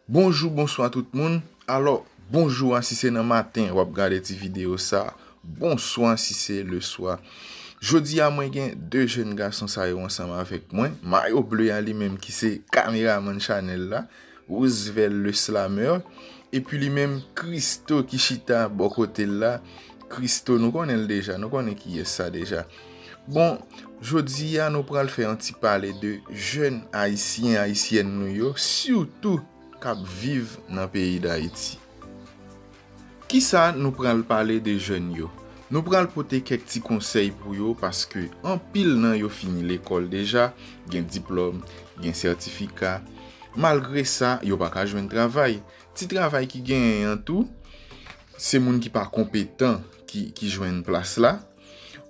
Bonjou bonswa tout moun, alò bonjou a si se nan maten wap gade ti video sa, bonswa si se le swa Jodi a mwen gen 2 jèn gason sa yo ansanm avèk mwen, mayo ble a li menm ki se kameraman chanèl la Roosevelt le Slameur, epi li menm Christo ki chita bò kote l la, Christo nou konnen l deja, nou konnen kiyès sa deja. Bon, jodi a nou pral fè yon ti pale de jèn Ayisyen, Ayisyèn nou yo, sitou k ap viv nan peyi Dayiti. Kisa nou pral pale de jèn yo? Nou pral pote kèk ti konsèy pou yo paske anpil nan yo fini lekòl deja, gen diplòm, gen sètifika. Malgre sa, yo pa ka jwenn travay. Ti travay ki genyen an tou, se moun ki pa konpetan ki jwenn plas la.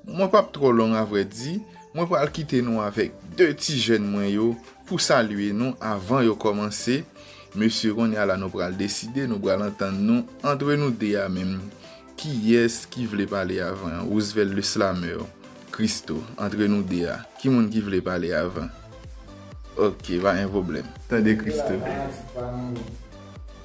Mwen pap trò long avrè di, mwen pral kite nou avèk 2 ti jèn mwen yo pou salye nou avan yo kòmanse, mesye konnya la nou pral deside, nou pral antann nou antre nou 2 a menm kiyès ki vle pale avan, Roosevelt le slameur, Christo, antre nou 2 a ki moun ki vle pale avan? Ok pa gen pwoblèm. Tande Christo.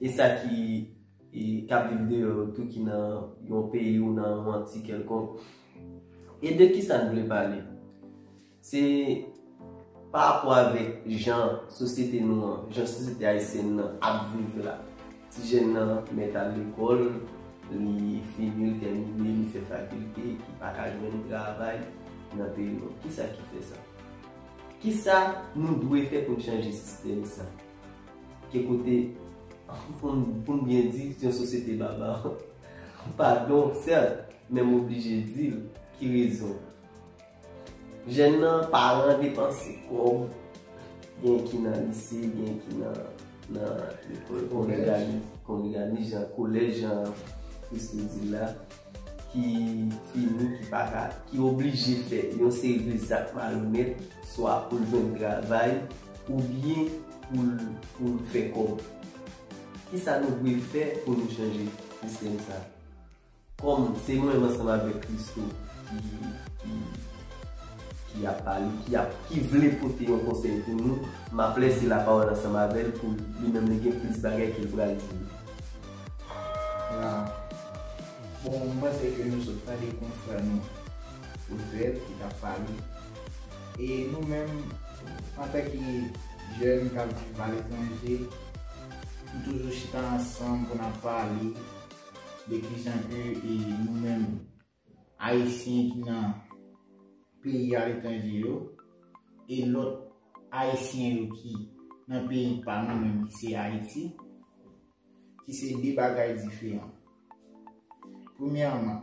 E sa ki k ap viv deyò yo tou ki nan yon peyi ou nan yon anti kèlkonk? E de ki sa n vle pale? Se parapò avèk jan sosyete nou an, jan sosyete ayisyèn nan ap viv la. Ti jèn nan mèt al lekòl, li fini, li tèmine, li fè fakilte, li pa ka jwenn travay nan peyi nou an. Ki sa ki fè sa? Ki sa nou dwe fè pou n chanje sistèm sa? Ke kote poun byen di yon sosyete babar. Padon sèl, men m oblije di l, ki rezon. Jèn nan paran depanse kòb, gen ki nan lise, gen ki nan lekòl, kongreganis jan, kolèj jan Christo di la. ki fini, ki pa ka, ki oblije fè yon seri de zak malonèt, swa pou l jwenn travay, oubyen pou l fè kòb. Kisa nou dwe fè pou nou chanje sistèm sa a? Kòm se mwen menm ansanm avèk Christo ki ap pale, ki vle pote yon konsèy pou nou, m ap lèse lapawòl ansanm avè l pou li menm li gen plis bagay ke l pral di nou. Nan bon moman se ke nou sot tande konfrè nou Odrette ki tap pale e nou menm antan ke jèn kap viv aletranje nou toujou chita ansanm pou nap pale de kijan ke nou menm Ayisyen ki nan peyi aletranje yo e lòt Ayisyen yo ki nan peyi pa nou menm ki se Ayiti, ki se de bagay diferan. Premyèman,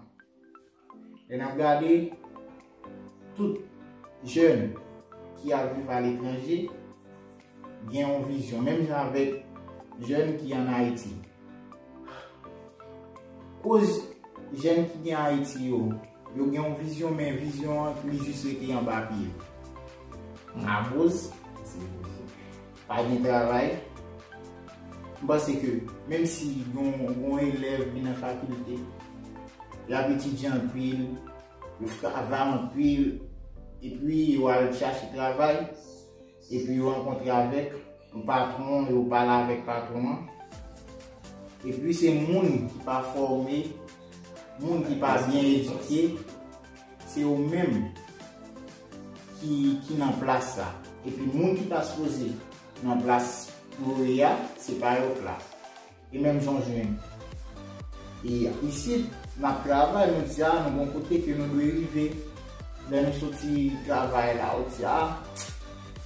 lè n ap gade tout jèn ki ap viv aletranje, gen yon vizyon, menm jan avèk jèn ki an Ayiti. Koz jèn ki gen Ayiti yo, yo gen yon vizyon men vizyon an li jis rete anba pye. Aboz, pa gen travay. M panse ke menm si yon elèv vin nan fakilte, l ap etidye anpil, l travay anpil, epi yo al chache travay. Epi yo rankontre avèk yon patwon an, yo pale avèk patwon an. Epi se moun ki pa fòme, moun ki pa byen edike, se yo menm ki nan plas la. Epi moun ki ta sipoze nan plas pou yo ye a, se pa yo k la. E menm jan jwenn. E isit, n ap travay, nou di a nou gen yon kote ke nou dwe rive. Lè nou soti travay la, ou di a,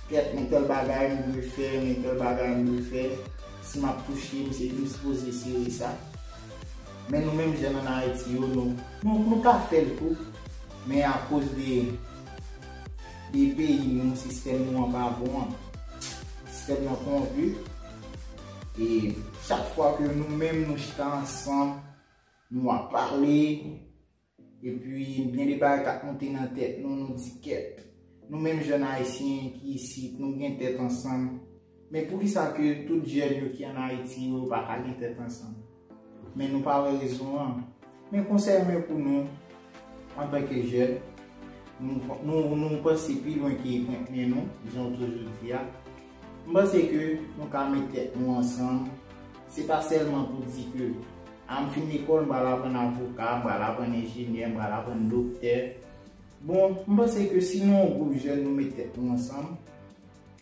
kèt men tèl bagay m dwe fè, men tèl bagay m dwe fè. Si m ap touche, m se, m sipoze sere sa. Men nou menm jèn ann Ayiti yo, nou, nou ka fè l tou, men akoz de, de peyi nou, sistèm nou an pa bon an. Sistèm nan kowonpi. E chak fwa ke nou menm nou chita ansanm, nou ap pale, epi gen de bagay kap monte nan tèt nou, nou di kèt. Nou menm jèn ayisyen ki isit, nou gen tèt ansanm. Men poukisa ke tout jèn yo ki an Ayiti yo pa ka gen tèt ansanm? Men nou pa wè rezon an. Men konsèy mwen pou nou antanke jèn, nou panse pi lwen ke kontni nou, jan w toujou di a. M panse ke nou ka met tèt nou ansanm, se pa sèlman pou di ke a m fin lekòl m pral aprann avoka, m pral aprann enjenyè, m pral aprann doktè. Bon, m panse ke si nou yon gwoup jèn nou met tèt nou ansanm,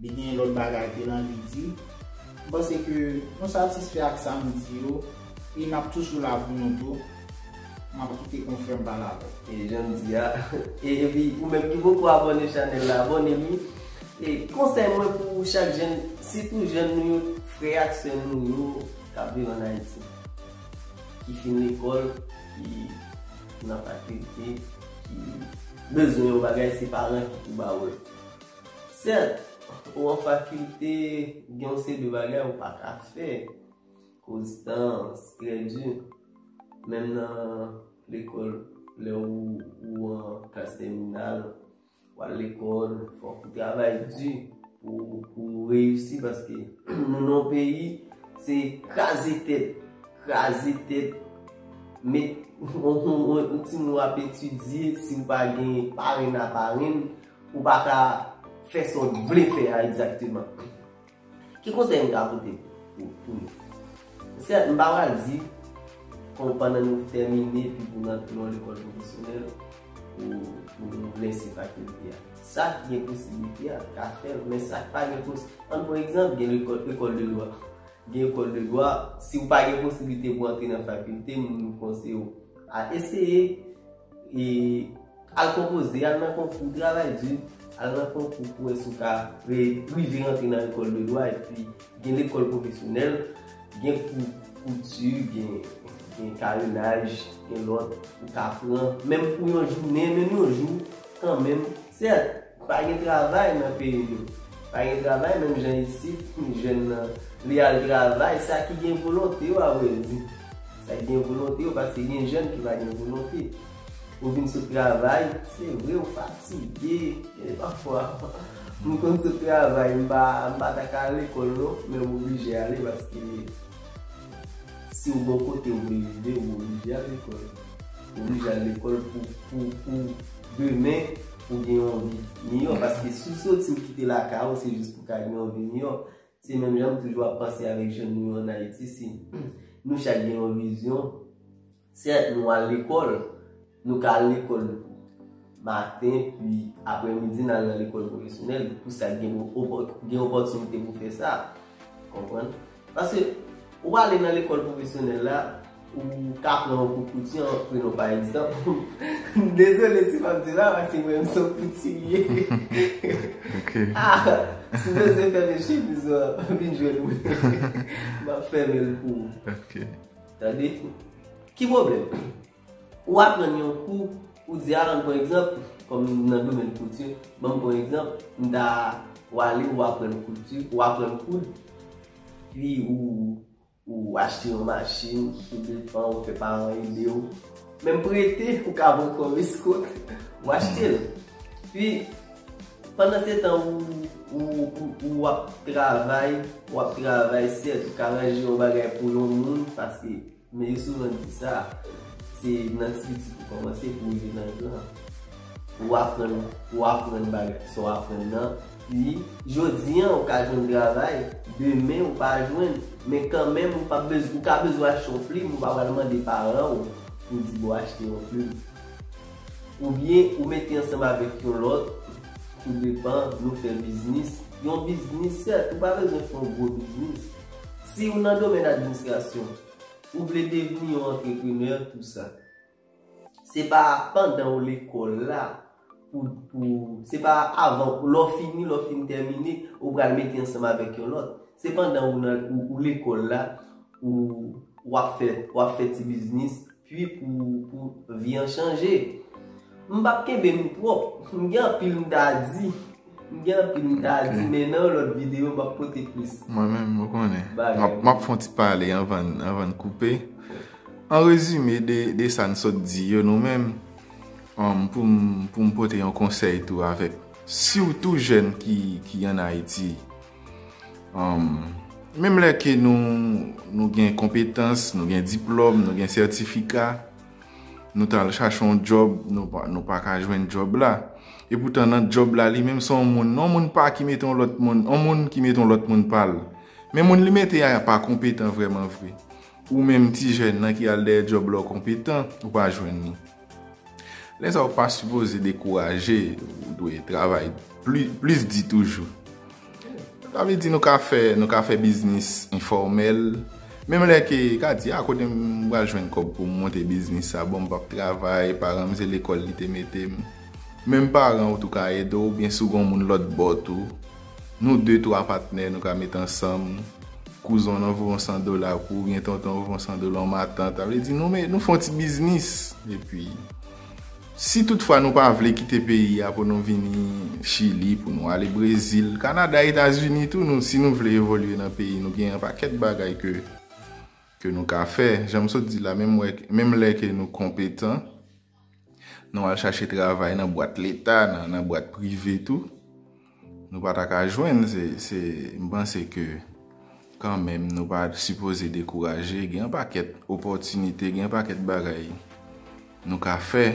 Li gen lòt bagay ke l anvi di. M panse ke nou satisfè ak sa m di yo e n ap toujou la pou nou tou. M ap kite konfrè m pale avè l. E jan m di a, e epi ou menm ki poko abòne chanèl la, abòne li. E konsèy mwen pou chak jèn, sitou jèn nou yo, frè ak sè nou yo k ap viv an Ayiti, ki fin lekòl, ki nan fakilte, ki bezwen yon bagay se paran ki pou ba ou l. Sèt, ou an fakilte, gen yon seri de bagay ou pa ka fè koz tan an trè di. Menm nan lekòl, lè ou an klas tèminal, ou al lekòl, fòk ou travay di pou ou reyisi paske nou nan yon peyi se kraze tèt, kraze tèt, met yon timoun ap etidye, si ou pa gen parenn a parenn, Ou pa ka fè sa w vle fè a egzakteman. Ki konsèy m ka pote pou nou? Sèt, m pa pral di kon pandan nou tèmine epi pou nou antre yon lekòl pwofesyonèl pou nou lèse fakilte a. Sa k gen posiblite a ka fè l, men sa k pa gen pos, an pran egzanp gen lekòl, lekòl de dwa. Gen lekòl de dwa, si w pa gen posiblite pou antre nan fakilte, m konseye w a eseye. E al konpoze, al nan konkou, travay di, al nan konkou pou wè si w ka rive rantre nan lekòl de dwa epi gen lekòl pwofesyonèl, gen kou kouti, gen karenaj, gen lòt ou ka pran menm pou yon jounen, menm yon jou kanmenm. Sèt! Pa gen travay nan peyi nou. Pa gen travay menm jan isit jèn nan vle al travay sa ki gen volonte yo a vrè di. Sa ki gen volonte yo paske gen jèn ki pa gen volonte. Ou vin sot travay, se vre ou fatige e pafwa m konn sot travay m pa m pa ta ka al lekòl non men m oblije ale paske si w gon kote ou vle rive ou oblije al lekòl. Ou oblije al lekòl pou pou pou demen Pou gen yon vi miyò paske si w soti w kite lakay ou se jis pou w ka gen yon vi miyò se menm jan m toujou ap panse avèk jèn nou yo an Ayiti si nou chak gen yon vizyon sèt nou al lekòl nou ka al lekòl maten pi aprè midi n al nan lekòl pwofesyonèl pou sa k gen opòtinite pou fè sa konprann. Paske, ou pa ale nan lekòl pwofesyonèl la, ou ka pran yon kou kouti an, prenw pa egzanp, m dezole si map di la, paske mwen menm se yon koutiyè. Ok. A! Si w bezwen fèmen chemiz ou an, vin jwenn mwen. Map fèmen l pou ou. Ok. Tande? Ki pwoblèm? Ou aprann yon kou, ou di Alan pran egzanp, kòm nan domèn kouti, ban m pran egzanp, m ta wale ou aprann kouti, ou aprann koud, pi ou achte yon machin, ou depan, ou fè paran ede ou. Menm prete, ou ka vin kòm eskòt, ou achte l. Pi, pandan se tan ou ap travay, ou ap travay, sèt ou ka ranje yon bagay pou yon moun, paske. Men yo souvan di sa, se nan ti piti pou kòmanse pou rive nan gran. Ou aprann, ou aprann bagay, sa w aprann nan, pi jodi an ou ka jwenn travay, demen ou pa jwenn, men kanmenm ou pa bezwen, ou ka bezwen achte yon plim, ou pa pral mande paran ou pou w di bon achte yon plim. Oubyen ou mete ansanm avèk yon lòt, tou depan, nou fè biznis, yon biznis sèt, ou pa bezwen fè yon gwo biznis. Si ou nan domèn administrasyon, ou vle devni yon antreprenè tou sa. Se pa pandan ou lekòl la, se pa avan, lè w fini, lè w fin tèmine, ou pral mete ansanm avèk yon lòt. Se pandan ou lekòl la, ou ap fè ti biznis, Pui pou pou vi an chanje. M pap kenbe m twòp, m gen anpil m ta di. M gen anpil m ta di men nan yon lòt videyo m ap pote plis. Mwen menm ou konnen. M ap fon ti pale anvan n koupe. An rezime de sa n sot di yo nou menm pou m pote yon konsèy tou avèk. Siw tou jèn ki an Ayiti. Menm lè ke nou gen konpetans, nou gen diplòm, nou gen sètifika, nou ta al chache yon djòb, nou pa ka jwenn djòb la. E poutan nan djòb la li menm se yon moun, yon moun pa ki mete yon lòt moun, yon moun ki mete yon lòt moun pa l. Men moun li mete a pa konpetan vreman vre. Ou menm ti jèn nan ki al dèyè djòb la ou konpetan, ou pa jwenn ni. Lè sa ou pa sipoze dekouraje, ou dwe travay plis di toujou. Sa vle di nou ka fè, nou ka fè biznis enfòmèl, menm lè ke ka di a kote m pral jwenn kòb pou m monte biznis sa, bon m pap travay, paran m se lekòl li te mete m. Menm paran ou tou ka ede w, oubyen si w gen yon moun lòt bò tou. Nou de twa patnè nou ka met ansanm, kouzen w nan voye yon san dola pou ou oubyen tonton w voye yon san dola ou matant, sa vle di nou me, nou fè yon ti biznis. Epi, si tout fwa nou pa vle kite peyi a pou nou vini Chili, pou nou ale Brezil, Kanada, Etazini tou, nou si nou vle evolye nan peyi nou gen yon pakèt bagay ke ke nou ka fè. Jan m sot di la, menm wè, menm lè ke nou konpetan, Nou al chache travay nan bwat leta, nan bwat prive tou. Nou pa ta ka jwenn. Se m panse ke kan menm nou pa sipoze dekouraje. Gen yon pakèt opòtinite, gen yon pakèt bagay nou ka fè.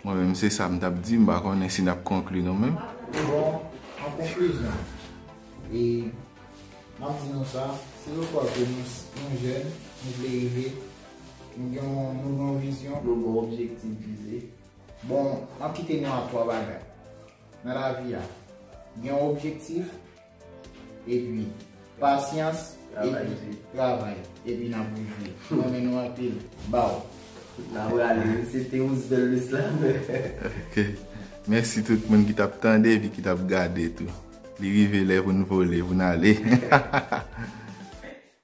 Mwen menm se sa m t ap di. M pa konnen si n ap konkli nou menm. Bon, an konklizyon, e m ap di nou sa, se yon fwa ke nou jèn, nou vle rive. Nou gen yon nou gen yon vizyon. Yo gen yon objektif vize. Bon, m ap kite nou ak 3 bagay. Nan lavi a, gen yon objektif, epi pasyans, epi travay, epi n ap rive. M renmen nou anpil. Baw! N ap rale l. Se te Roosevelt Le Slameur. Ok. Mèsi tout moun ki t ap tande epi ki t ap gade tou. Li rive lè pou n vole, pou n ale.